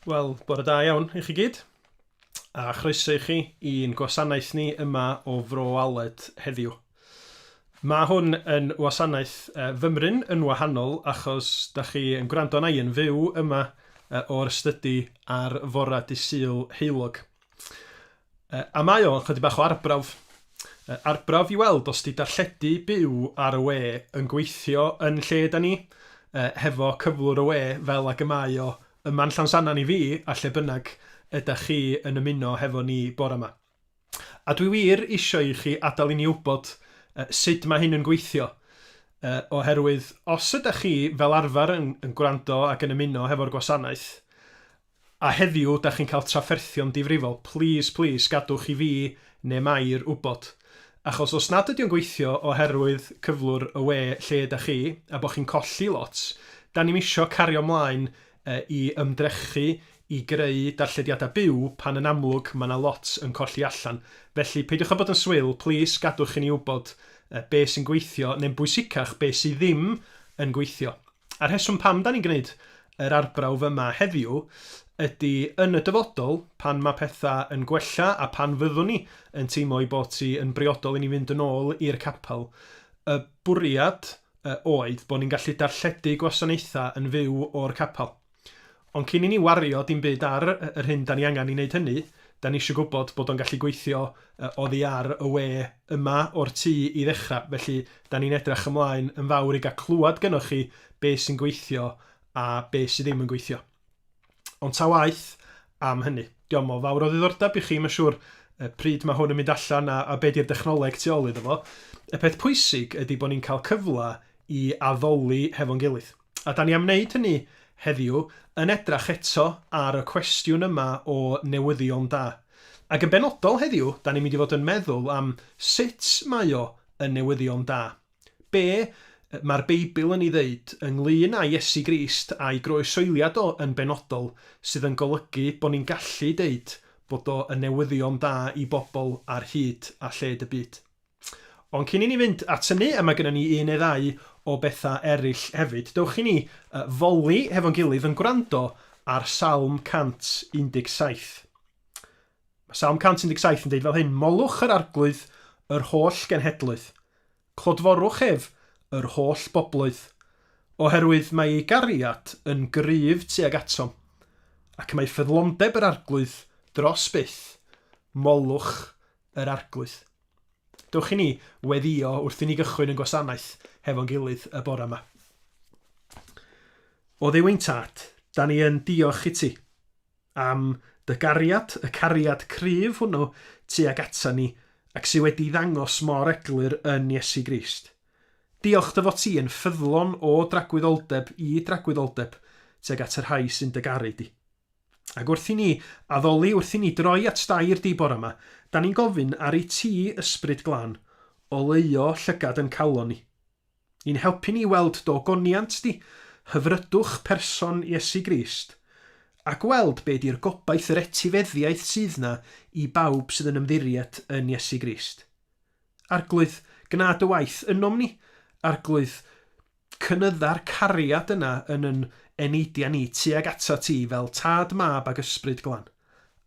Wel, bore da iawn i chi gyd, a chroeso i chi i'n gwasanaeth ni yma o Fro Aled heddiw. Mae hwn yn wasanaeth uh, fymryn yn wahanol achos da chi yn gwrando na i yn fyw yma uh, o'r ystydu ar fora dysil heilog. Yy, a mae o, chydig bach o arbrawf. Yy, arbrawf i weld os 'di darlledu byw ar y we yn gweithio yn lle 'da ni, yy, hefo cyflwr y we fel ag y mae o yma'n Llansannan i fi, a lle bynnag ydach chi yn ymuno hefo ni bore 'ma. A dwi wir isio i chi adael i ni wybod yy sud mae hyn yn gweithio, yy, oherwydd os ydach chi fel arfer yn yn gwrando ac yn ymuno hefo'r gwasanaeth, A heddiw dach chi'n cael trafferthio'n difrifol, plîs, plîs, gadwch i fi neu Mair wybod. Achos os nad ydy o'n gweithio oherwydd cyflwr y we lle ydach chi, a bod chi'n colli lot, 'dan ni'm isio cario 'mlaen i ymdrechu i greu darllediadau byw pan yn amlwg mae 'na lot yn colli allan. Felly, peidiwch â bod yn swil, plîs, gadwch i ni wybod be sy'n gweithio, neu'n bwysicach, be sy' ddim yn gweithio. A'r rheswm pam 'da ni'n gwneud yr arbrawf yma heddiw ydy yn y dyfodol, pan mae pethau yn gwella a phan fyddwn ni yn teimlo ei bod hi yn briodol i ni fynd yn ôl i'r capel, y bwriad oedd bod ni'n gallu darlledu gwasanaethau yn fyw o'r capel. Ond cyn i ni wario dim byd ar yr hyn 'da ni angen i wneud hynny, 'da ni eisiau gwybod bod o'n gallu gweithio oddi ar y we yma o'r tŷ i ddechrau. Felly, 'da ni'n edrych ymlaen yn fawr i gael clywed gynnoch chi be sy'n gweithio a be sy ddim yn gweithio. Ond ta waeth am hynny, diom o fawr o ddiddordeb i chi, mae'n siŵr, pryd mae hwn yn mynd allan a, a be di'r dechnoleg tu ôl iddo fo. Y peth pwysig ydy bod ni'n cael cyfle i addoli hefo'n gilydd. A da ni am wneud hynny heddiw, yn edrach eto ar y cwestiwn yma o newyddion da. Ac yn benodol heddiw, da ni'n mynd i fod yn meddwl am sut mae o yn newyddion da. Be mae'r Beibl yn ei ddeud ynglŷn â Iesu Grist a'i groesoeliad o yn benodol sydd yn golygu bod ni'n gallu deud bod o yn newyddion da i bobl ar hyd a lled y byd? Ond cyn i ni fynd at hynny, mae gennym ni un neu ddau o bethau eraill hefyd. Dewch i ni foli hefo'n gilydd yn gwrando ar Salm 117. Mae Salm 117 yn deud fel hyn, Molwch yr arglwydd, yr holl genhedloedd. Clodforwch ef, yr holl bobloedd. Oherwydd mae ei gariad yn gryf tuag atom, ac mae ffyddlondeb yr arglwydd dros byth. Molwch Yr Arglwydd. Dewch i ni weddïo wrth i ni gychwyn yn gwasanaeth hefo'n gilydd y bore yma. O Dduw ein Tad, da ni yn diolch i ti am dy gariad, y cariad cryf hwnnw tuag ata ni ac sydd wedi ddangos mor eglur yn Iesu Grist. Diolch dy fod ti yn ffyddlon o dragwyddoldeb i dragwyddoldeb tuag at y rhai sy'n dy garu di. Ac wrth i ni addoli, wrth i ni droi at dair di bore yma, da ni'n gofyn, Aru ti, Ysbryd Glân, oleuo llygad yn calon ni. I'n helpu ni i weld do goniant di, hyfrydwch person Iesu Grist, a gweld be di'r gobaith, yr etifeddiaeth sydd na i bawb sydd yn ymddiried yn Iesu Grist. Arglwydd, gna dy waith ynom ni, Arglwydd, Cynydda'r cariad yna yn yn eneidia ni tuag atat ti fel Tad, Mab ag Ysbryd Glân.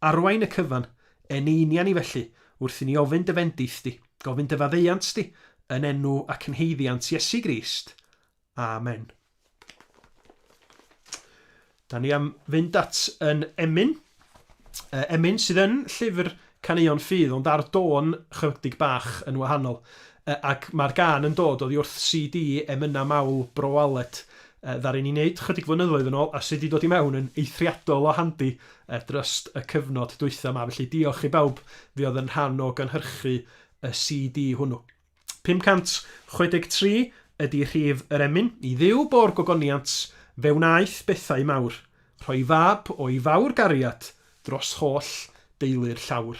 Arwain y cyfan, eneinia ni felly, wrth i ni ofyn dy fendith di, gofyn dy faddeuant di, yn enw ac yn haeddiant Iesu Grist. Amen. Dan ni am fynd at yn Emyn. Yy Emyn sydd yn llyfr caneuon ffydd ond ar dôn chydig bach yn wahanol. Yy ac mae'r gân yn dod oddi wrth CD Emyna Mawl Bro Aled yy ddaru ni neud chydig flynyddoedd yn ôl a sy 'di dod i mewn yn eithriadol o handi yy dryst y cyfnod dwytha 'ma felly diolch i bawb fuodd yn rhan o gynhyrchu y CD hwnnw. 563 ydy rhif yr emyn. I Dduw bo'r gogoniant, fe wnaeth bethau mawr, rhoi fab o'i fawr gariad dros holl deulu'r llawr.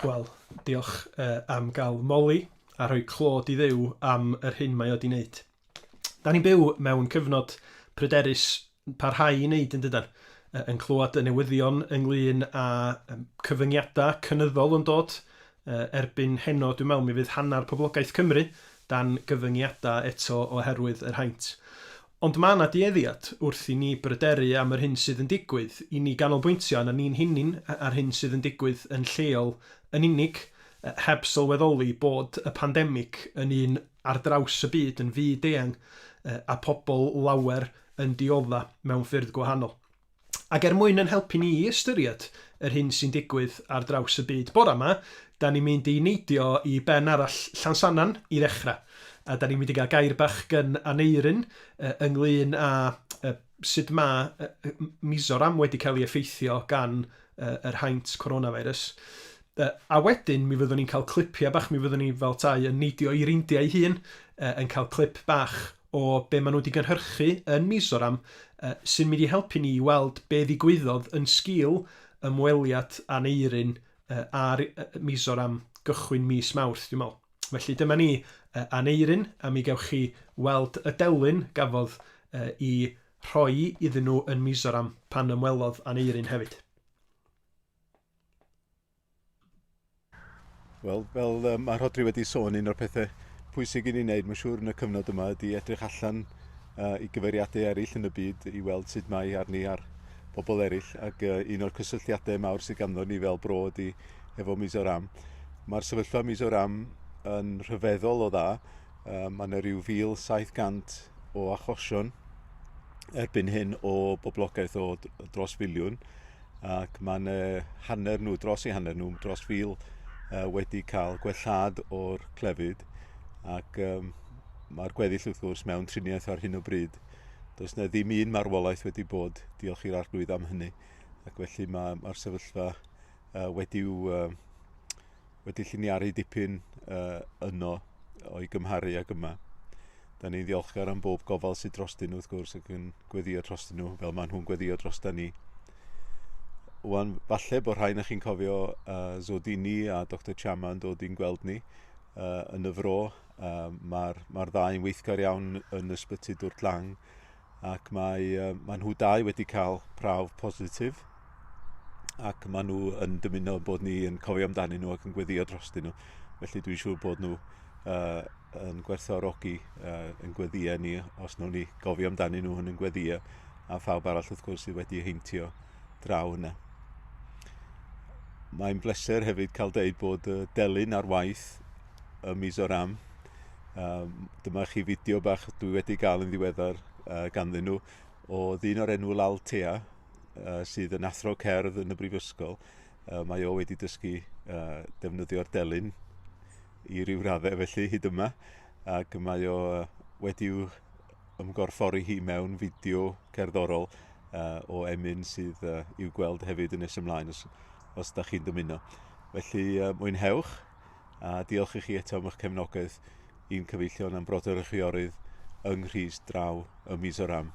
Wel, diolch uh, am gael moli a rhoi clod i ddew am yr hyn mae o wedi wneud. Da ni'n byw mewn cyfnod pryderus parhau i wneud yn dydan? Yn clywed y newyddion ynglyn â cyfyngiadau cynyddol yn dod, erbyn heno dwi'n meddwl mi fydd hanner poblogaeth Cymru dan gyfyngiadau eto oherwydd yr haint. Ond mae yna dueddiad wrth i ni bryderu am yr hyn sydd yn digwydd i ni ganolbwyntio arna ni'n hunain a'r hyn sydd yn digwydd yn lleol yn unig, heb sylweddoli bod y pandemig yn un ar draws y byd yn fyd-eang a pobl lawer yn diodda' mewn ffyrdd gwahanol. Ac er mwyn yn helpu ni i ystyried yr hyn sy'n digwydd ar draws y byd bore 'ma, 'dan ni'n mynd i neidio i ben arall Llansannan i ddechrau, a 'dan ni'n mynd i gael gair bach gan Aneurin ynglŷn â sut mae Mizoram wedi cael ei effeithio gan yr haint coronavirus. Yy a wedyn mi fyddwn ni'n cael clipiau bach, mi fyddwn ni fel 'tai yn neidio i'r India ei hun, yy yn cael clip bach o be' ma' nw 'di gynhyrchu yn Mizoram yy sy'n mynd i helpu ni i weld be' ddigwyddodd yn sgil ymweliad Aneurin yy â'r yy Mizoram gychwyn mis Mawrth dwi'n me'wl. Felly dyma ni, yy Aneurin, a mi gewch chi weld y delyn gafodd yy 'i rhoi iddyn nhw yn Mizoram pan ymwelodd Aneurin hefyd. Wel, fel um, mae Rhodri wedi sôn, un o'r pethau pwysig i ni wneud, mae'n siŵr, yn y cyfnod yma, ydy edrych allan uh, i gyfeiriadau eraill yn y byd i weld sut mae arni ar bobl eraill. Ac uh, un o'r cysylltiadau mawr sydd ganddo ni fel bro ydy efo Mizoram. Mae'r sefyllfa Mizoram yn rhyfeddol o dda. Uh, mae yna rhyw 1,700 o achosion erbyn hyn o boblogaeth o dros filiwn. ac mae yna hanner nhw, dros ei hanner nhw, dros fil uh, wedi cael gwellhad o'r clefyd ac um, mae'r gweddill wrth gwrs mewn triniaeth ar hyn o bryd. Does na ddim un marwolaeth wedi bod, diolch i'r arglwydd am hynny, ac felly mae'r mae sefyllfa uh, wedi'w uh, wedi lliniaru dipyn uh, yno o'i gymharu ag yma. Da ni'n ddiolchgar am bob gofal sydd drostyn nhw wrth gwrs ac yn gweddio drostyn nhw fel maen nhw'n gweddio drosta ni. Wan, falle bod rhain chi'n cofio uh, Zodini a Dr Chama yn dod i'n gweld ni uh, yn y fro. Uh, Mae'r ma ddau yn weithgar iawn yn ysbyty Dwrt Lang ac mae, mae nhw dau wedi cael prawf positif ac maen nhw yn dymuno bod ni yn cofio amdanyn nhw ac yn gweddio drostyn nhw. Felly dwi'n siŵr bod nhw uh, yn gwerthorogi uh, yn gweddio ni os nhw'n ni gofio amdanyn nhw yn yn gweddio a phawb arall wrth gwrs sydd wedi heintio draw yna. Mae'n bleser hefyd cael deud bod uh, delyn ar waith y mis o'r am Um, dyma chi fideo bach dwi wedi gael yn ddiweddar uh, ganddyn nhw o ddyn o'r enw Lal Tea uh, sydd yn athro cerdd yn y brifysgol. Uh, mae o wedi dysgu uh, defnyddio'r delyn i ryw raddau felly hyd yma ac mae o uh, wedi'w ymgorffori hi mewn fideo cerddorol uh, o emyn sydd uh, i'w gweld hefyd yn nes ymlaen os, os da chi'n dymuno. Felly uh, mwynhewch. A diolch i chi eto am eich cefnogaeth i'n cyfeillion am brodyr a chwiorydd yng Nghrist draw ym Mizoram.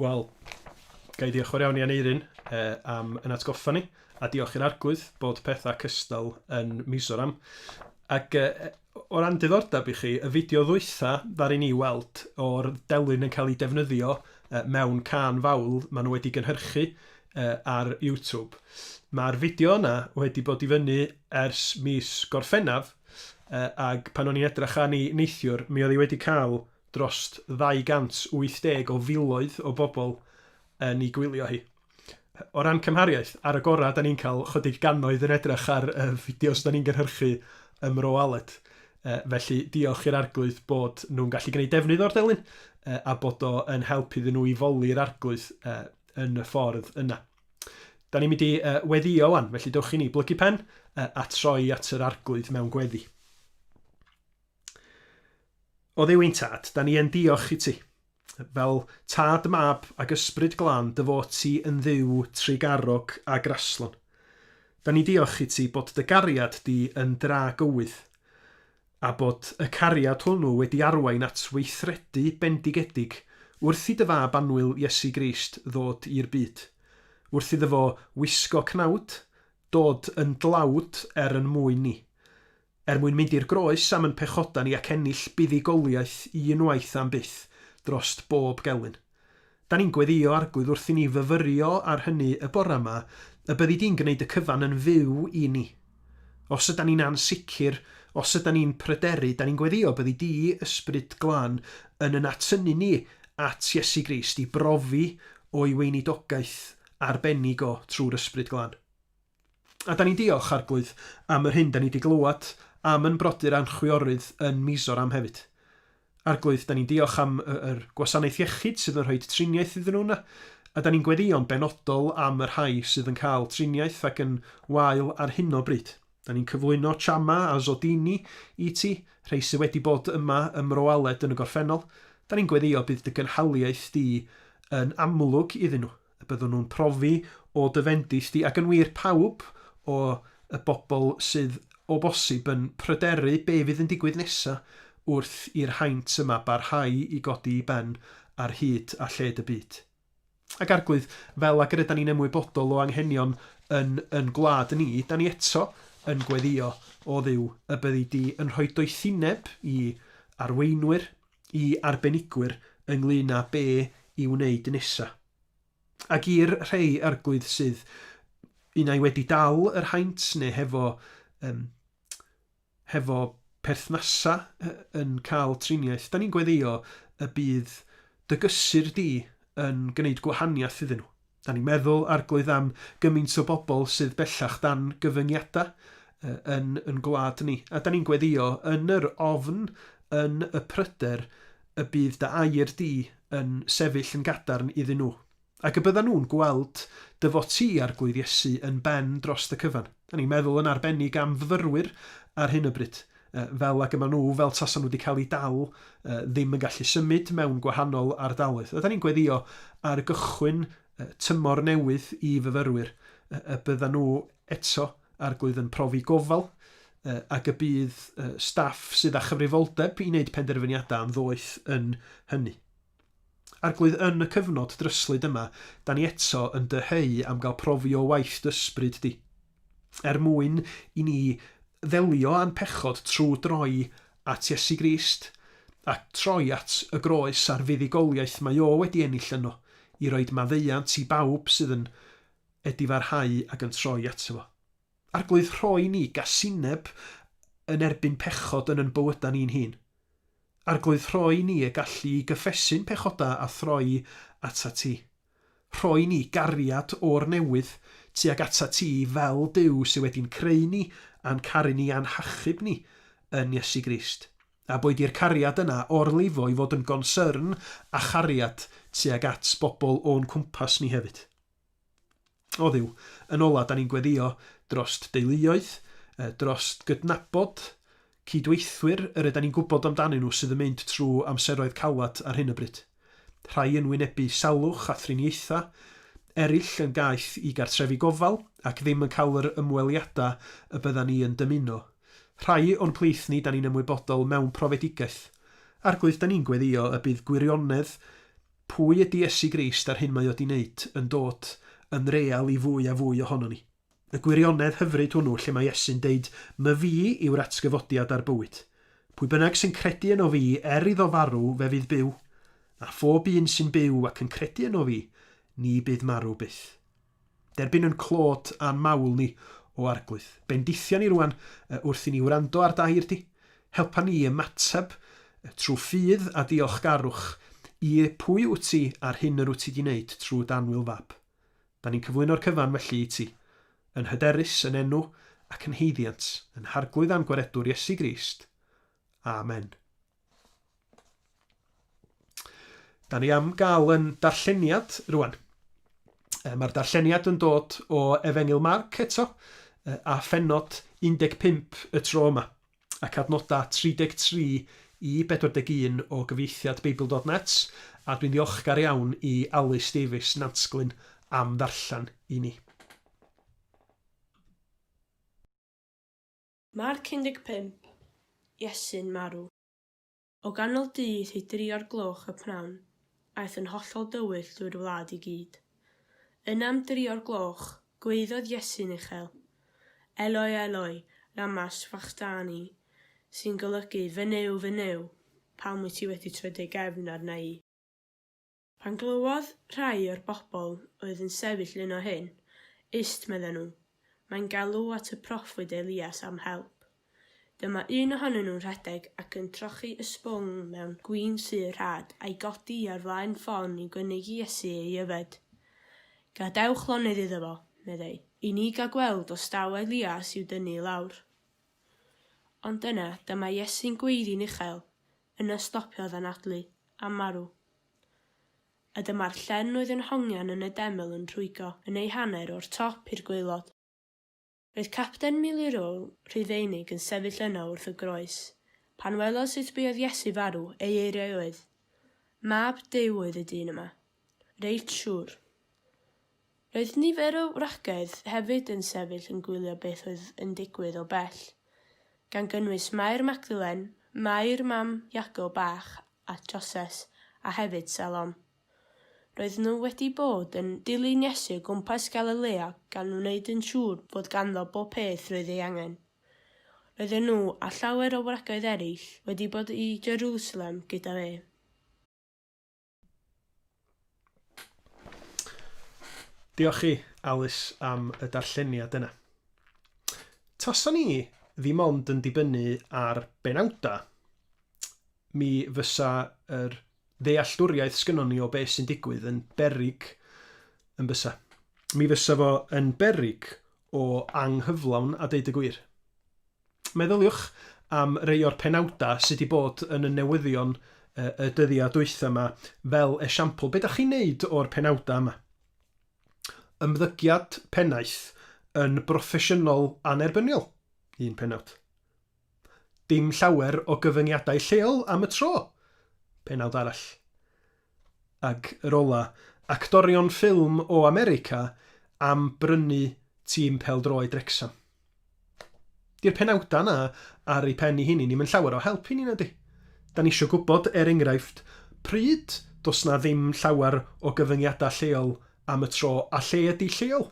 Wel, ga i ddiolch yn fawr iawn i Aneurin uh, am yn atgoffa ni, a diolch i'r Arglwydd bod pethau cystal yn Mizoram. Ac uh, o ran diddordeb i chi, y fideo ddwytha ddari ni weld o'r delyn yn cael ei defnyddio uh, mewn can fawl maen nhw wedi gynhyrchu uh, ar YouTube. Mae'r fideo yna wedi bod i fyny ers mis Gorffennaf, ac pan o'n i'n edrych arni neithiwr, mi oedd hi wedi cael dros 280 o filoedd o bobl yn ei gwylio hi. O ran cymhariaeth, ar y gorau, da ni'n cael chydig gannoedd yn edrych ar y fideos da ni'n gynhyrchu ym Mro Aled. Felly, diolch i'r Arglwydd bod nhw'n gallu gwneud defnydd o'r delyn a bod o yn help iddyn nhw i foli'r Arglwydd yn y ffordd yna. Da ni'n mynd i uh, weddio wan, felly dewch i ni blygu pen uh, a troi at yr arglwydd mewn gweddi. O ddew ein tad, da ni yn diolch i ti. Fel tad, mab ac ysbryd glân, dy fod ti yn ddiw trigarog a graslon. Da ni diolch i ti bod dy gariad di yn dra gywydd. a bod y cariad hwnnw wedi arwain at weithredu bendigedig wrth i dy Fab annwyl Iesu Grist ddod i'r byd, wrth iddo fo wisgo cnawd, dod yn dlawd er yn mwyn ni, er mwyn mynd i'r groes am yn pechoda ni ac ennill buddugoliaeth un waith am byth drost bob gelyn. Da ni'n gweddio Arglwydd wrth i ni fyfyrio ar hynny y bore yma, y byddi di'n gwneud y cyfan yn fyw i ni. Os yda ni'n ansicr, os yda ni'n pryderu, da ni'n gweddio byddi di, Ysbryd Glân, yn yn atynnu ni at Iesu Grist i brofi o'i weinidogaeth arbennig o trwy'r Ysbryd Glân. A 'da ni'n diolch, Arglwydd, am yr hyn 'da ni 'di glywed am yn brodyr a'n chwiorydd yn Mizoram hefyd. Arglwydd, 'da ni'n diolch am y, yr gwasanaeth iechyd sydd yn rhoi triniaeth iddyn nhw yna, a 'da ni'n gweddïo'n benodol am y rhai sydd yn cael triniaeth ac yn wael ar hyn o bryd. 'Da ni'n cyflwyno Chama a Zodini i Ti, rhei sydd wedi bod yma ym Mro Aled yn y gorffennol. 'Da ni'n gweddïo bydd Dy gynhaliaeth Di yn amlwg iddyn nhw. Y byddwn nhw'n profi o dy fendith di, ac yn wir, pawb o y bobl sydd o bosib yn pryderu be fydd yn digwydd nesaf wrth i'r haint yma barhau i godi i ben ar hyd a lled y byd. Ac Arglwydd, fel ag yr ydan ni'n ymwybodol o anghenion yn yn gwlad ni, dan ni eto yn gweddio, o Dduw, y byddi di yn rhoi doethineb i arweinwyr, i arbenigwyr ynglŷn â be i wneud nesa. Ac i'r rhei arglwydd sydd unai wedi dal yr haint neu hefo, um, hefo perthnasa yn cael triniaeth, da ni'n gweddio y bydd dy gysur di yn gwneud gwahaniaeth iddyn nhw. Da ni'n meddwl, Arglwydd, am gymaint o bobl sydd bellach dan gyfyngiadau yn yn gwlad ni, a da ni'n gweddio yn yr ofn, yn y pryder, y bydd dy air di yn sefyll yn gadarn iddyn nhw, ac y byddan nhw'n gweld dy fod ti, Arglwydd Iesu, yn ben dros y cyfan. Da ni'n meddwl yn arbennig am fyfyrwyr ar hyn o bryd, fel ag y maen nhw, fel tasa nhw wedi cael eu dal, ddim yn gallu symud mewn gwahanol ardaloedd. Ydan ni'n gweddio ar gychwyn tymor newydd i fyfyrwyr y byddan nhw eto, Arglwydd, yn profi gofal, ac y bydd staff sydd â chyfrifoldeb i wneud penderfyniadau am ddoeth yn hynny. Arglwydd, yn y cyfnod dryslyd yma, da ni eto yn dyheu am gael profi o waith dysbryd di. Er mwyn i ni ddelio â'n pechod trwy droi at Iesu Grist a troi at y groes a'r fuddugoliaeth mae O wedi ennill yno i roid maddeuant i bawb sydd yn edifarhau ac yn troi ato Fo. Arglwydd, rhoi ni gasineb yn erbyn pechod yn yn bywydau ni'n hun. Arglwydd, rhoi ni y gallu i gyffesu'n pechodau a throi atat Ti. Rhoi ni gariad o'r newydd tuag atat ti fel Duw sydd wedi'n creu ni a'n caru ni a'n hachub ni yn Iesu Grist. A boed i'r cariad yna orlifo i fod yn gonsyrn a chariad tuag at bobl o'n cwmpas ni hefyd. O Dduw, yn ola, da ni'n gweddio drost deuluoedd, drost gydnabod cyd-weithwyr yr ydan ni'n gwybod amdanyn nhw sydd yn mynd trw amseroedd calad ar hyn o bryd. Rhai yn wynebu salwch a thriniaethau, erill yn gaeth i gartrefi gofal ac ddim yn cael yr ymweliada y byddan ni yn dymuno. Rhai o'n plith ni da ni'n ymwybodol mewn profedigaeth. Arglwydd, da ni'n gweddio y bydd gwirionedd Pwy ydy Iesu Grist a'r hyn mae o 'di wneud yn dod yn real i fwy a fwy ohonon ni? Y gwirionedd hyfryd hwnnw lle mae Iesu'n deud 'my fi yw'r atgyfodiad a'r bywyd. Pwy bynnag sy'n credu yno fi, er iddo farw, fe fydd byw. A phob un sy'n byw ac yn credu yno fi, ni bydd marw byth. Derbyn yn clôt a'n mawl ni, o Arglwydd. Bendithia ni rŵan wrth i ni wrando ar dair di. Helpa ni i ymateb trwy ffydd a diolchgarwch i pwy wyt ti a'r hyn yr wyt ti di wneud trwy d'anwyl fab. Da ni'n cyflwyno'r cyfan felly i ti, yn hyderus yn enw ac yn haeddiant yn Harglwydd a'n Gwaredwr Iesu Grist. Amen. Da ni am gael yn darlleniad rwan. Mae'r darlleniad yn dod o Efengil Marc eto, a phennod 15 y tro yma, ac adnodau 33 i 41 o gyfieithiad Beibl.net, a dwi'n ddiolchgar iawn i Alys Davies Nantsglyn am ddarllen i ni. Marc 15, Iesu'n marw. O ganol dydd i dri o'r gloch y pnawn, aeth yn hollol dywyll drwy'r wlad i gyd. Yna am dri o'r gloch, gwaeddodd Iesu'n uchel, Eloi, Eloi, lama sfachthani, sy'n golygu, Fy Nuw, fy Nuw, pam wyt ti wedi troi dy gefn arna i? Pan glywodd rhai o'r bobl oedd yn sefyll yno hyn, Ist, medden nhw, mae'n galw at y proffwyd Elias am help. Dyma un ohonyn nhw'n rhedeg ac yn trochi ysbwng mewn gwin sydd rhad, a'i godi ar flaen ffon i gynnig i Iesu ei yfed. Gadewch lonydd iddo fo, meddai, i ni gael gweld os daw Elias i'w dynnu i lawr. Ond yna, dyma Iesu'n gweiddi'n uchel, yna stopiodd anadlu, a marw. A dyma'r llen oedd yn hongian yn y deml yn rhwygo yn ei hanner o'r top i'r gwaelod. Roedd Capten Millerole, Rhufeinig, yn sefyll yno wrth y groes. Pan welodd sut buodd Iesu farw, ei eiriau oedd, Mab Duw oedd y dyn yma. Reit siŵr. Roedd nifer o wragedd hefyd yn sefyll yn gwylio beth oedd yn digwydd o bell, gan gynnwys Mair Magdalen, Mair mam Iago bach a Joses, a hefyd Salom. Roedden nhw wedi bod yn dilyn Iesu o gwmpas Galilea gan wneud yn siŵr fod ganddo bob peth roedd ei angen. Roedden nhw, a llawer o wragedd eraill, wedi bod i Jerusalem gyda fe. Diolch i Alys am y darlleniad yna. Tasan ni ddim ond yn dibynnu ar benawdau, mi fysa yr ddealltwriaeth sgynnon ni o beth sy'n digwydd yn beryg yn bysa. Mi fysa fo yn beryg o anghyflawn a deud y gwir. Meddyliwch am rei o'r penawdau sydd wedi bod yn y newyddion y dyddiau dwytha yma, fel esiampl, be dach chi'n neud o'r penawdau yma? Ymddygiad pennaeth yn broffesiynol annerbyniol, un penawd. Dim llawer o gyfyngiadau lleol am y tro, penawd arall. ac yr ola, actorion ffilm o America am brynu tîm pêl-droed Wrecsam. Di'r penawda yna ar ei phen i hini ni'm yn llawer o help i ni nadi? Da ni isio gwybod, er enghraifft, pryd does na ddim llawer o gyfyngiada lleol am y tro a lle ydi lleol?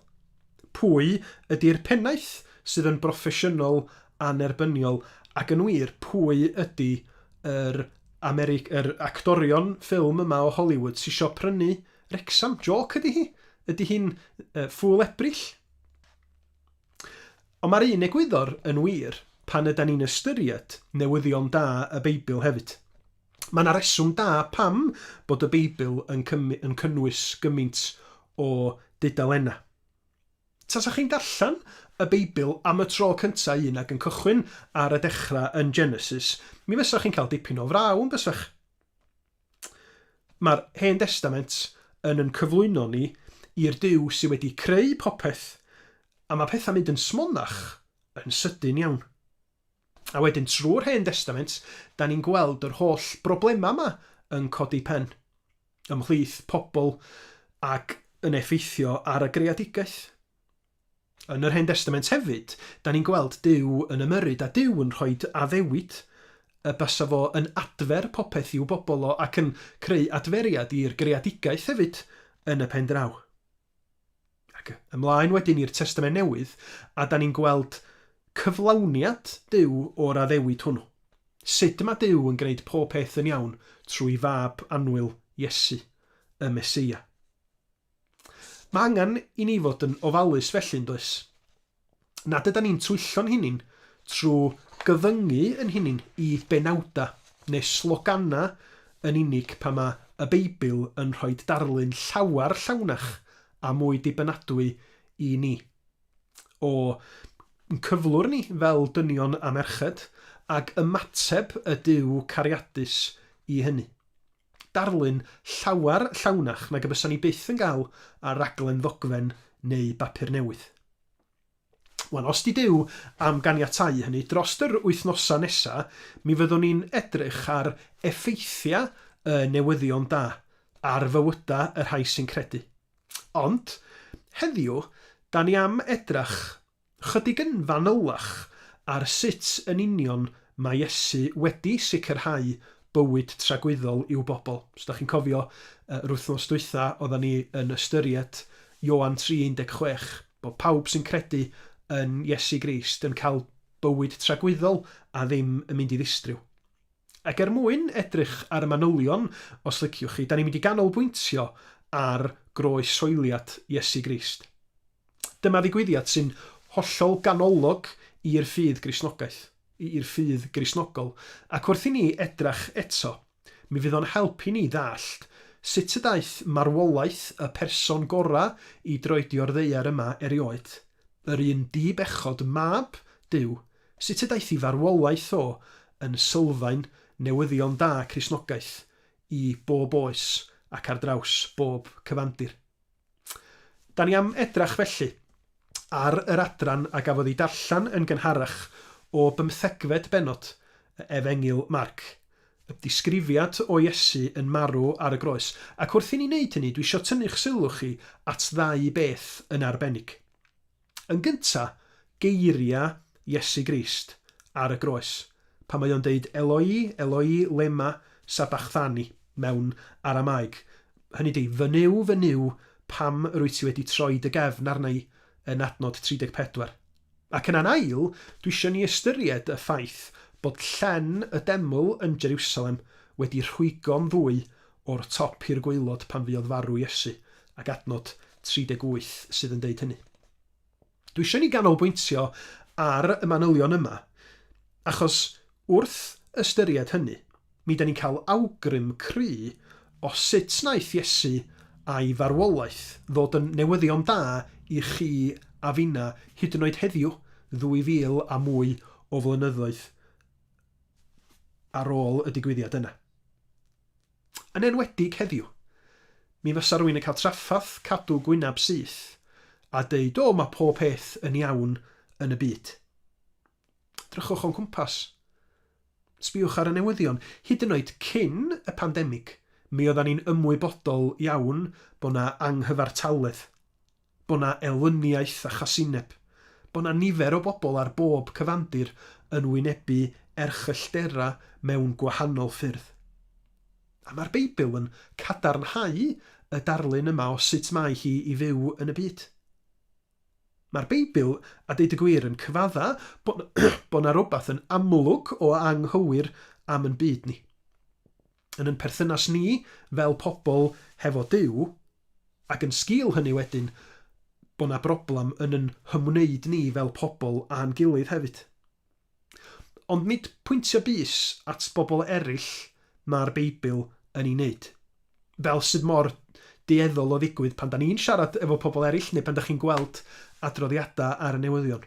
Pwy ydi'r pennaeth sydd yn broffesiynol annerbyniol, ac yn wir, pwy ydi yr Ameri- yr actorion ffilm yma o Hollywood sy isio prynu Wrecsam? Jôc ydi hi? Ydi hi'n yy Ffŵl Ebrill? Ond mae'r un egwyddor yn wir pan ydan ni'n ystyried newyddion da y Beibl hefyd. Mae yna reswm da pam bod y Beibl yn yn cynnwys gymaint o dudalennau. Tasa chi'n darllen y Beibl am y tro cyntaf un ag yn cychwyn ar y dechrau yn Genesis, mi fysa chi'n cael dipyn o fraw, yn bysach? Mae'r Hen Destament yn yn cyflwyno ni i'r Duw sydd wedi creu popeth, a mae pethau'n mynd yn smonach yn sydyn iawn. A wedyn trwy'r Hen Destament, dan ni'n gweld yr holl broblemau yma yn codi pen ymhlith pobl ac yn effeithio ar y greadigaeth. Yn yr Hen Destament hefyd, dan ni'n gweld Duw yn ymyrryd a Duw yn rhoi addewid y basa fo yn adfer popeth i'w bobl o ac yn creu adferiad i'r greadigaeth hefyd yn y pen draw. Ac ymlaen wedyn i'r Testament Newydd, a da ni'n gweld cyflawniad Duw o'r addewid hwnnw. Sut mae Duw yn gwneud pob peth yn iawn trwy fab annwyl Iesu, y Meseia. Mae angen i ni fod yn ofalus felly, yn does? nad ydan ni'n twyllo'n hunin trwy gyfyngu yn hunin i benawdau neu sloganau yn unig pan mae y Beibl yn rhoi darlun llawer llawnach a mwy dibynadwy i ni o yn cyflwr ni fel dynion a merched ac ymateb y Duw cariadus i hynny. darlun llawer llawnach nag y bysa ni byth yn gael ar raglen ddogfen neu bapur newydd. Wel, os di Duw am ganiatáu hynny, drost yr wythnosau nesa, mi fyddwn ni'n edrych ar effeithiau y newyddion da ar fywydau y rhai sy'n credu. Ond, heddiw, da ni am edrach Chydig yn fanylach ar sut yn union mae Iesu wedi sicrhau bywyd tragwyddol i'w bobl. Os da chi'n cofio, yr wythnos dwytha odda ni yn ystyried Ioan 3:16, bod pawb sy'n credu yn Iesu Grist yn cael bywyd tragwyddol a ddim yn mynd i ddistriw. Ac er mwyn edrych ar y manylion, os liciwch chi, da ni'n mynd i ganolbwyntio ar groes-hoeliad Iesu Grist. Dyma ddigwyddiad sy'n hollol ganolog i'r ffydd Gristnogaeth, i'r ffydd Gristnogol, ac wrth i ni edrach eto, mi fydd o'n help i ni ddallt sut y daeth marwolaeth y person gorau i droedio'r ddaear yma erioed, yr un di-bechod, Mab Duw, sut y daeth i farwolaeth o yn sylfaen newyddion da Cristnogaeth i bob oes ac ar draws bob cyfandir. Da ni am edrach felly ar yr adran a gafodd ei darllen yn gynharach o bymthegfed bennod y Efengyl Marc, y disgrifiad o Iesu yn marw ar y groes. Ac wrth i ni wneud hynny, dwi isio tynnu'ch sylw chi at ddau beth yn arbennig. Yn gynta, geiriau Iesu Grist ar y groes, pan mae o'n deud Eloi, Eloi, lema sabachthani mewn Aramaeg, hynny ydi, Fy Nuw, fy Nuw, pam rwyt ti wedi troi dy gefn arna i? yn adnod 34. Ac yna'n ail, dwi isio ni ystyried y ffaith bod llen y deml yn Jeriwsalem wedi rhwygo'n ddwy O'r top i'r gwaelod pan fuodd farw Iesu, ac adnod 38 sydd yn deud hynny. Dwi eisiau i ni ganolbwyntio ar y manylion yma, achos wrth ystyried hynny, mi ydan ni'n cael awgrym cry o sut wnaeth Iesu a'i farwolaeth ddod yn newyddion da i chi a finna hyd yn oed heddiw, ddwy fil a mwy o flynyddoedd ar ôl y digwyddiad yna. Yn enwedig heddiw. Mi fasa rwyn yn cael traffath cadw gwynab syth a deud o ma pob peth yn iawn yn y byd. Edrychwch o'n cwmpas. Sbiwch ar y newyddion. Hyd yn oed cyn y pandemig mi oeddan ni'n ymwybodol iawn bo na anghyfartaledd. Bo' 'na elyniaeth a chasineb. Bo' 'na nifer o bobl ar bob cyfandir yn wynebu erchyllterau mewn gwahanol ffyrdd. A mae'r Beibl yn cadarnhau y darlun yma o sut mae hi i fyw yn y byd. Mae'r Beibl, a deud y gwir, yn cyfadda' bo' 'na rywbeth yn amlwg o anghywir am yn byd ni. yn yn perthynas ni fel pobl hefo Duw, ac yn sgil hynny wedyn bod 'na broblem yn yn hymwneud ni fel pobl a'n gilydd hefyd. Ond nid pwyntio bys at bobl eraill mae'r Beibl yn ei wneud. Fel sydd mor dueddol o ddigwydd pan 'da ni'n siarad efo pobl eraill neu pan 'da chi'n gweld adroddiadau ar y newyddion.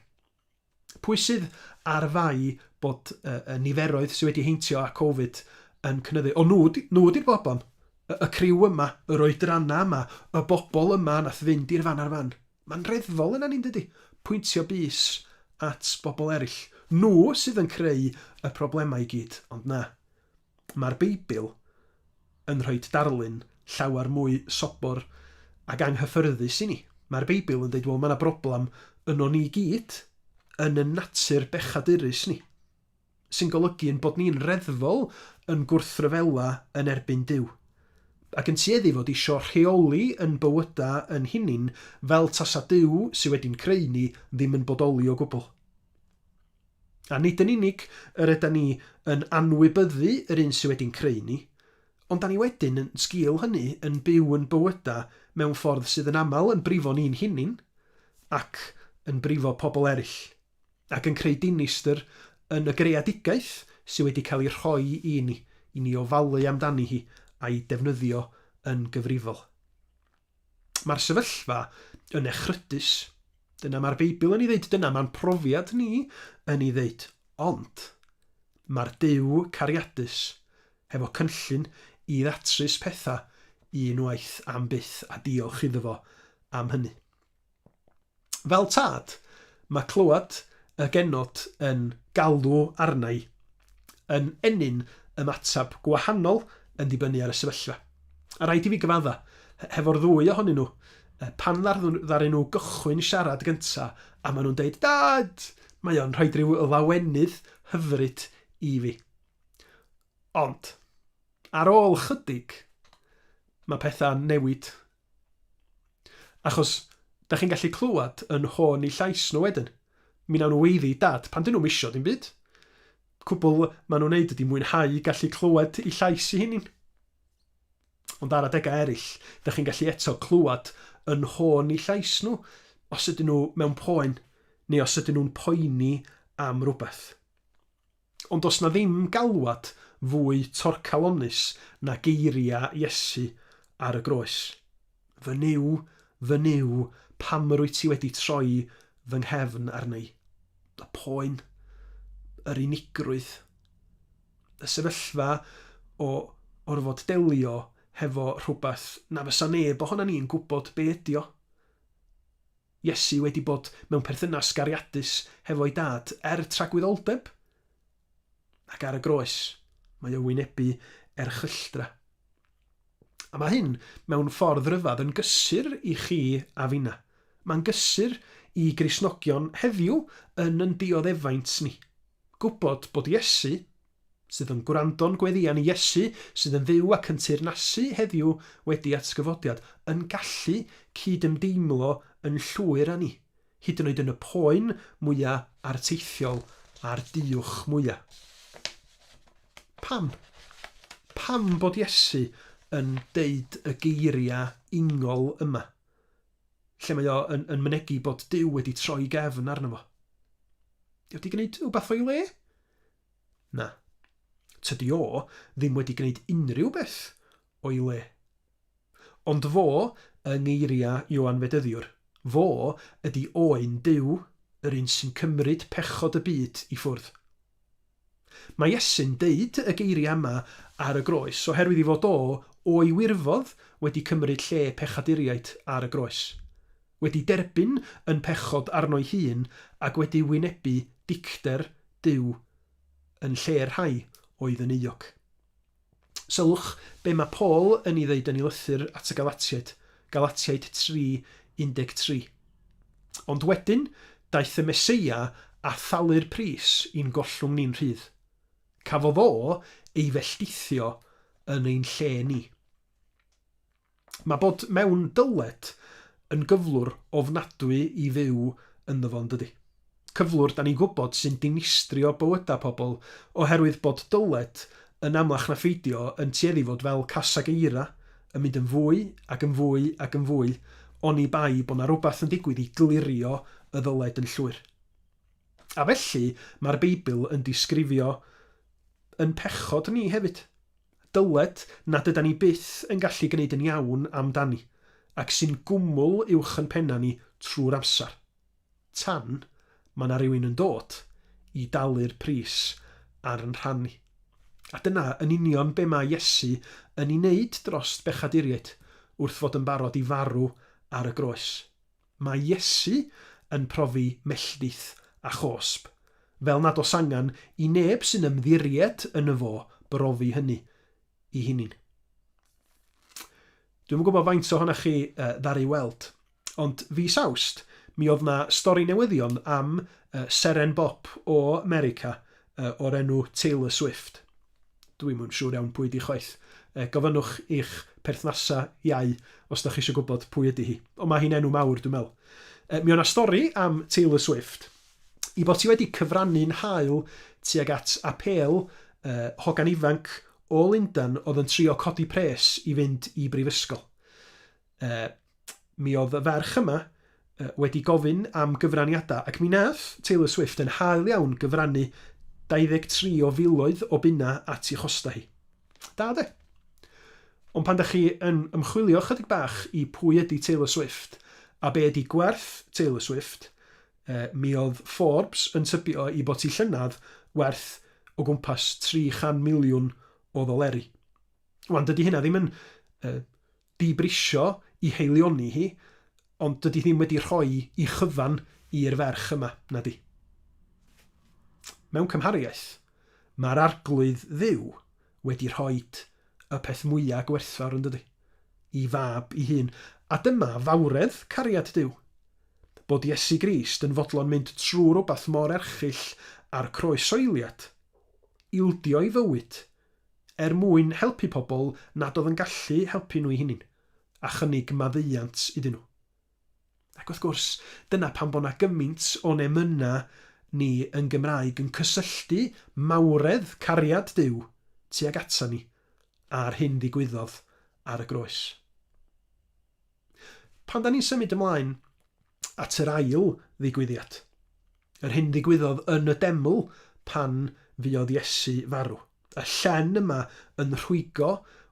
Pwy sydd ar fai bod y niferoedd sydd wedi heintio â Covid yn cynyddu? O, nhw, nhw ydy'r bobon. Y, y criw yma, yr oedranna yma, y bobol yma nath fynd i'r fan ar fan. Mae'n reddfol yna ni, yndydi? Pwyntio bys at bobol eraill. Nhw sydd yn creu y problemau i gyd, ond na. Mae'r Beibl yn rhoi darlun llawer mwy sobor ac anghyffyrddus i ni. Mae'r Beibl yn dweud, wel, mae yna broblem yno ni gyd, yn y natur bechadurus ni, sy'n golygu yn bod ni'n reddfol yn gwrthryfela yn erbyn Duw, ac yn tueddu fod isio rheoli yn bywyda yn hunin fel tasa Duw sydd wedi'n creu ni ddim yn bodoli o gwbl. A nid yn unig yr yda ni yn anwybyddu yr un sydd wedi'n creu ni, ond da ni wedyn, yn sgil hynny, yn byw yn bywyda mewn ffordd sydd yn aml yn brifo ni'n hunin ac yn brifo pobl eraill, ac yn creu dinistr yn y greadigaeth sydd wedi cael ei rhoi i ni, i ni ofalu amdani hi a'i defnyddio yn gyfrifol. Mae'r sefyllfa yn echrydus. Dyna mae'r Beibl yn ei ddeud, dyna mae'n profiad ni yn ei ddeud. Ond mae'r Duw cariadus hefo cynllun i ddatrys pethau unwaith am byth a diolch iddo fo am hynny. Fel tad, mae clywed y genod yn galw arna'i yn ennyn ymateb gwahanol yn dibynnu ar y sefyllfa. A rhaid i fi gyfadda, hefo'r ddwy ohonyn nhw, pan ddaru nhw gychwyn siarad gynta a maen nhw'n deud 'Dad! mae o'n rhoid rhyw lawenydd hyfryd i fi. Ond, ar ôl chydig, mae pethau'n newid Achos, dach chi'n gallu clywed yn nhôn eu llais nhw wedyn, mi wnawn nhw weiddi i Dad pan 'dyn nhw'm isio dim byd. Cwbl maen nhw'n neud ydi mwynhau gallu clywed eu llais eu hunin. Ond ar adegau eraill, dach chi'n gallu eto clywed yn nhôn eu llais nhw os ydyn nhw mewn poen neu os ydyn nhw'n poeni am rywbeth. Ond does 'na ddim galwad fwy torcalonnus na geiriau Iesu ar y groes, Fy Nuw, fy Nuw, pam rwyt ti wedi troi fy nghefn arna i? Y poen, yr unigrwydd, y sefyllfa o orfod delio hefo rhywbeth na fysa neb ohonan ni'n gwybod be ydy o. Iesu wedi bod mewn perthynas gariadus hefo'i Dad er tragwyddoldeb? Ac ar y groes, mae o wynebu erchylltra. A mae hyn, mewn ffordd ryfedd, yn gysur i chi a finna. Mae'n gysur i Gristnogion heddiw yn yn dioddefaint ni. Gwybod bod Iesu, sydd yn gwrando'n gweddïan i Iesu sydd yn fyw ac yn teyrnasu heddiw wedi atgyfodiad, yn gallu cyd-ymdeimlo yn llwyr â ni, hyd yn oed yn y poen mwya' arteithiol a'r duwch mwya'. Pam? Pam bod Iesu yn deud y geiriau ingol yma, lle mae o yn, yn mynegi bod Duw wedi troi gefn arno fo? Ydy o wedi gwneud rhywbeth o'i le? Na. Tydi o ddim wedi gwneud unrhyw beth o'i le. Ond fo, yng ngeiriau Ioan Fedyddiwr, fo ydi oen Duw, yr un sy'n cymryd pechod y byd i ffwrdd. Mae Iesu'n deud y geiriau yma ar y groes oherwydd ei fod o, o'i wirfodd, wedi cymryd lle pechaduriaid ar y groes. wedi derbyn yn pechod arno'i hun ac wedi wynebu dicter Duw yn lle'r rhai oedd yn euog. Sylwch be mae Paul yn ei ddeud yn ei lythyr at y Galatiaid, Galatiaid 3, 13. Ond wedyn, daeth y Meseia a thalu'r pris i'n gollwng ni'n rhydd. Cafodd o ei felltithio yn ein lle ni. Mae bod mewn dyled yn gyflwr ofnadwy i fyw ynddo fo yn dydi? Cyflwr 'da ni'n gwybod sy'n dinistrio bywydau pobl oherwydd bod dyled, yn amlach na pheidio, yn tueddu i fod fel casag eira, yn mynd yn fwy ac yn fwy ac yn fwy, oni bai bod 'na rywbeth yn digwydd i glirio y ddyled yn llwyr. A felly, mae'r Beibl yn disgrifio yn pechod ni hefyd. dyled nad ydan ni byth yn gallu gwneud yn iawn amdani, ac sy'n gwmwl uwch yn pennau ni trwy'r amser, tan mae 'na rywun yn dod i dalu'r pris ar yn rhan ni. A dyna yn union be mae Iesu yn ei wneud dros bechaduriaid wrth fod yn barod i farw ar y groes. Mae Iesu yn profi melltith a chosb, fel nad oes angen i neb sy'n ymddiried yno fo brofi hynny i hunin. Dwi'm yn gwybod faint o honach chi ddaru weld, ond fis Awst, mi oedd na stori newyddion am seren bop o 'Merica o'r enw Taylor Swift. Dwi'm yn siŵr iawn pwy ydi chwaith. Yy gofynnwch i'ch perthnasa iau os dach chi isio gwybod pwy ydi hi. Ond mae hi'n enw mawr dwi'n meddwl. Yy mi o' 'na stori am Taylor Swift. I fod hi wedi cyfrannu'n hael tuag at apêl yy hogan ifanc o Lundan oedd yn trio codi pres i fynd i brifysgol. Yy, mi oedd y ferch yma yy wedi gofyn am gyfraniadau, ac mi nath Taylor Swift yn hael iawn gyfrannu 23 o filoedd o bunna at i chostau hi. Da de? Ond pan da chi yn ymchwilio chydig bach i pwy ydy Taylor Swift a be ydy gwerth Taylor Swift, yy, mi oedd Forbes yn tybio i bod ti llynedd werth o gwmpas 300 miliwn o ddoleri. Wan, dydy hynna ddim yn yy, dibrisio i haelioni hi, ond dydi ddim wedi rhoi i chyfan i'r ferch yma, na di? Mewn cymhariaeth, mae'r Arglwydd Dduw wedi rhoi y peth mwyaf gwerthfawr yn dydi? I fab i hun. A dyma fawredd cariad Duw. Bod Iesu Grist yn fodlon mynd trwy rhywbeth mor erchyll â'r croes soiliad, ildio ei fywyd er mwyn helpu pobl nad oedd yn gallu helpu nhw'u hunin, a chynnig maddeuant iddyn nhw. Ac wrth gwrs, dyna pam bod 'na gymaint o'n emyna ni yn Gymraeg yn cysylltu mawredd cariad Duw tuag ata ni â'r hyn ddigwyddodd ar y groes. Pan 'da ni'n symud ymlaen at yr ail ddigwyddiad, yr hyn ddigwyddodd yn y deml pan fuodd Iesu farw. Y llen yma yn rhwygo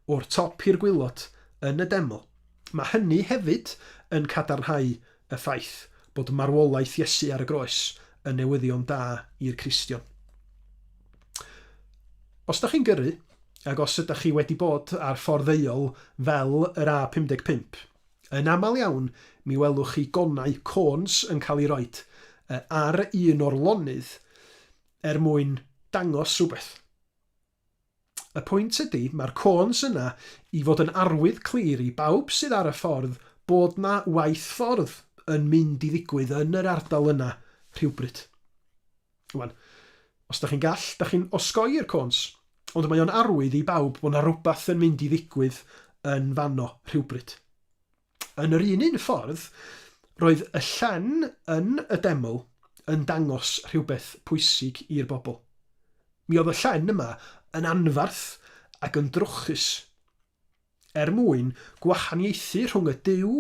o'r top i'r gwaelod yn y deml, mae hynny hefyd yn cadarnhau y ffaith bod marwolaeth Iesu ar y groes yn newyddion da i'r Cristion. Os ydych chi'n gyrru, ac os ydych chi wedi bod ar ffordd ddeuol fel yr A55, Yn aml iawn, mi welwch chi gonau, cones, yn cael eu rhoi ar un o'r lonydd er mwyn dangos rhywbeth. Y pwynt ydy, mae'r cones yna i fod yn arwydd clir i bawb sydd ar y ffordd bod 'na waith ffordd yn mynd i ddigwydd yn yr ardal yna rhywbryd. Wan, os dach chi'n gall, dach chi'n osgoi'r cons, ond mae o'n arwydd i bawb bod 'na rwbath yn mynd i ddigwydd yn fanno rhywbryd. Yn yr un un ffordd, roedd y llen yn y deml yn dangos rhywbeth pwysig i'r bobl. Mi oedd y llen yma yn anfarth ac yn drwchus. Er mwyn gwahaniaethu rhwng y Duw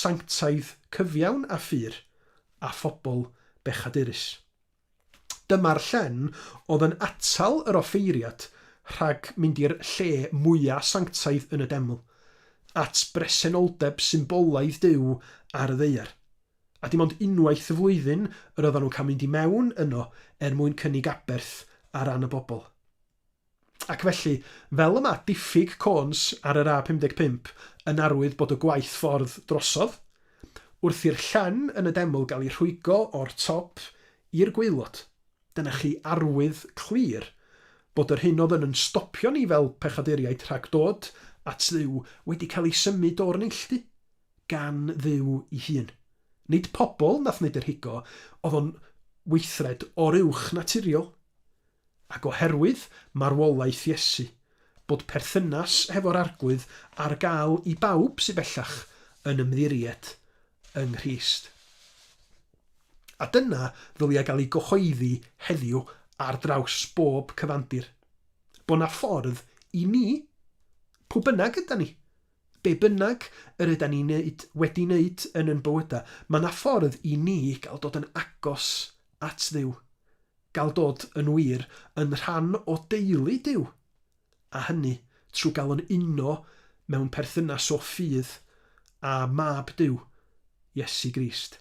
sanctaidd cyfiawn a phur, a phobl bechadurus. Dyma'r llen oedd yn atal yr offeiriad rhag mynd i'r lle mwya' sanctaidd yn y deml, at bresenoldeb symbolaidd Duw ar y ddaear. A dim ond unwaith y flwyddyn yr oeddan nhw'n cael mynd i mewn yno er mwyn cynnig aberth ar ran y bobl. Ac felly, fel y mae diffyg côns ar yr A55 yn arwydd bod y gwaith ffordd drosodd, wrth i'r llan yn y deml gael ei rhwygo o'r top i'r gwaelod, dyna chi arwydd clir bod yr hyn oedd yn yn stopio ni fel pechaduriaid rhag dod at Dduw wedi cael ei symud o'r neilltu gan Dduw ei hun. Nid pobl nath wneud yr higo, oedd o'n weithred oruwchnaturiol. Ac oherwydd marwolaeth Iesu, bod perthynas hefo'r Arglwydd ar gael i bawb sydd bellach yn ymddiried yng Nghrist. A dyna ddylia gael ei gyhoeddi heddiw ar draws bob cyfandir, bod 'na ffordd i ni, pw bynnag ydan ni, be bynnag yr ydan ni'n neud, wedi neud yn yn bywyda, ma' 'na ffordd i ni gael dod yn agos at Dduw, Gael dod yn wir yn rhan o deulu Duw, a hynny trwy gael yn uno mewn perthynas o fudd â Mab Duw, Iesu Grist.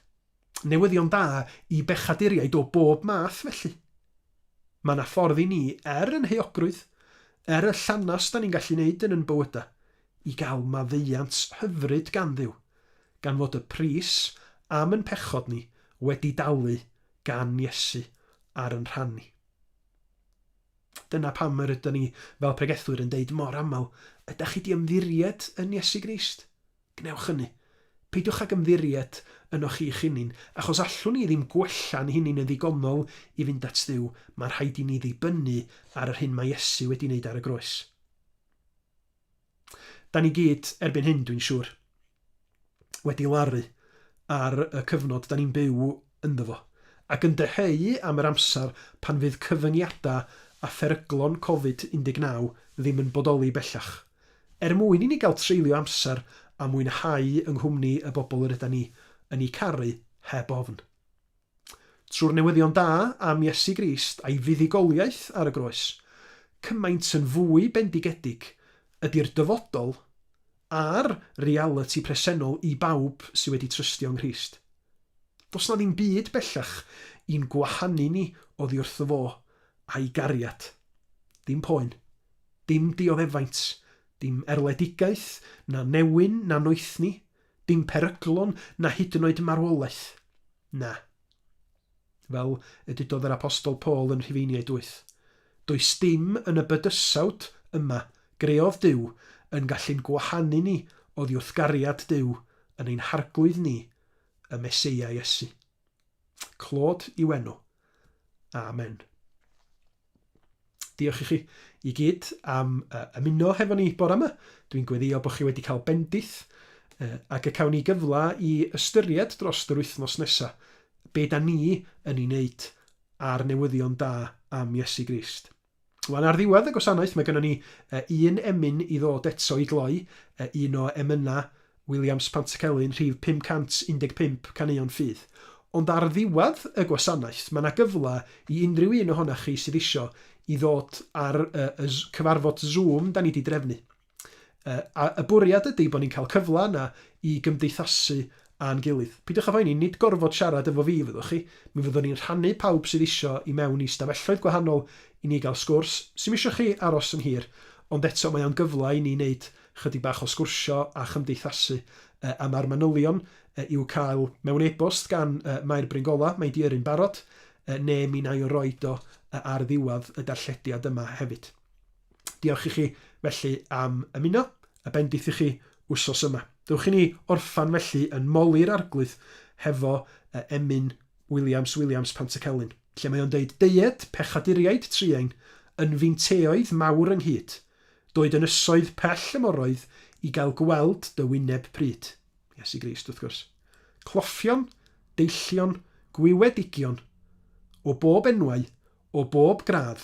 Newyddion da i bechaduriaid o bob math, felly. Mae yna ffordd i ni, er yn heuogrwydd, er y llanast da ni'n gallu wneud yn yn bywyda, i gael maddeuant hyfryd gan Dduw, gan fod y pris am yn pechod ni wedi dalu gan Iesu ar yn rhan ni. Dyna pam yr ydyn ni fel pregethwyr yn deud mor aml, ydych chi di ymddiried yn Iesu Grist? Gwnewch hynny. Peidiwch ag ymddiried yno chi'ch hunin, achos allwn ni ddim gwella'n hunin yn ddigonol i fynd at Dduw, mae'n rhaid i ni ddibynnu ar yr hyn mae Iesu wedi wneud ar y groes. Da ni gyd erbyn hyn, dwi'n siŵr, wedi laru ar y cyfnod da ni'n byw ynddo fo, ac yn dyheu am yr amser pan fydd cyfyngiadau a pheryglon Covid 19 ddim yn bodoli bellach, er mwyn i ni gael treulio amser a mwynhau yng nghwmni y bobl yr ydan ni yn eu caru heb ofn. Trwy'r newyddion da am Iesu Grist a'i fuddugoliaeth ar y groes, cymaint yn fwy bendigedig ydi'r dyfodol a'r realiti presennol i bawb sydd wedi trystio yng Nghrist. Does 'na ddim byd bellach i'n gwahanu ni oddi wrtho fo a'i gariad. Dim poen. Dim dioddefaint. Dim erledigaeth, na newyn, na noethni. Dim peryglon na hyd yn oed marwolaeth. Na. Fel y dudodd yr Apostol Paul yn Rhufeiniaid wyth, Does dim yn y bydysawd yma greodd Duw yn gallu'n gwahanu ni oddi wrth gariad Duw yn ein harglwydd ni y Meseia Iesu. Clod i'w enw. Amen. Diolch i chi i gyd am uh, ymuno hefo ni bore yma. Dwi'n gweddio bod chi wedi cael bendith uh, ac y cawn ni gyfle i ystyried dros yr wythnos nesaf be da ni yn ei wneud ar newyddion da am Iesu Grist. Wel, ar ddiwedd y gwasanaeth, mae gynnon ni un emyn i ddod eto i gloi, un o emynau Williams Pantycelyn, rhif 515, Caneuon Ffydd. Ond ar ddiwedd y gwasanaeth, mae 'na gyfle i unrhyw un ohonoch chi sydd isio i ddod ar y cyfarfod Zoom 'dan ni 'di drefnu. Yy, a y bwriad ydi bo' ni'n cael cyfla yna i gymdeithasu a'n gilydd. Peidiwch â phoeni, nid gorfod siarad efo fi fyddwch chi, mi fyddwn ni'n rhannu pawb sydd isio i mewn i stafelloedd gwahanol i ni gael sgwrs, sim isio chi aros yn hir, ond eto mae o'n gyfla i ni neud chydig bach o sgwrsio a chymdeithasu. Yy, a ma'r manylion yy i'w cael mewn e-bost gan yy Mair Bryn Gola, mae 'di yrru'n barod, yy ne' mi 'nai o roid o yy ar ddiwadd y darllediad yma hefyd. Diolch i chi felly am ymuno, a bendith i chi wsos yma. Dewch i ni orffan felly yn Moli'r Arglwydd hefo emyn Williams, Williams, Pantycelyn, lle mae o'n deud, Deued, pechaduriaid truain, yn feinteoedd mawr ynghyd, doed ynysoedd pell y moroedd i gael gweld dy wyneb pryd. Iesu Grist, wrth gwrs. Cloffion, deillion, gwiwedigion, o bob enwau, o bob gradd,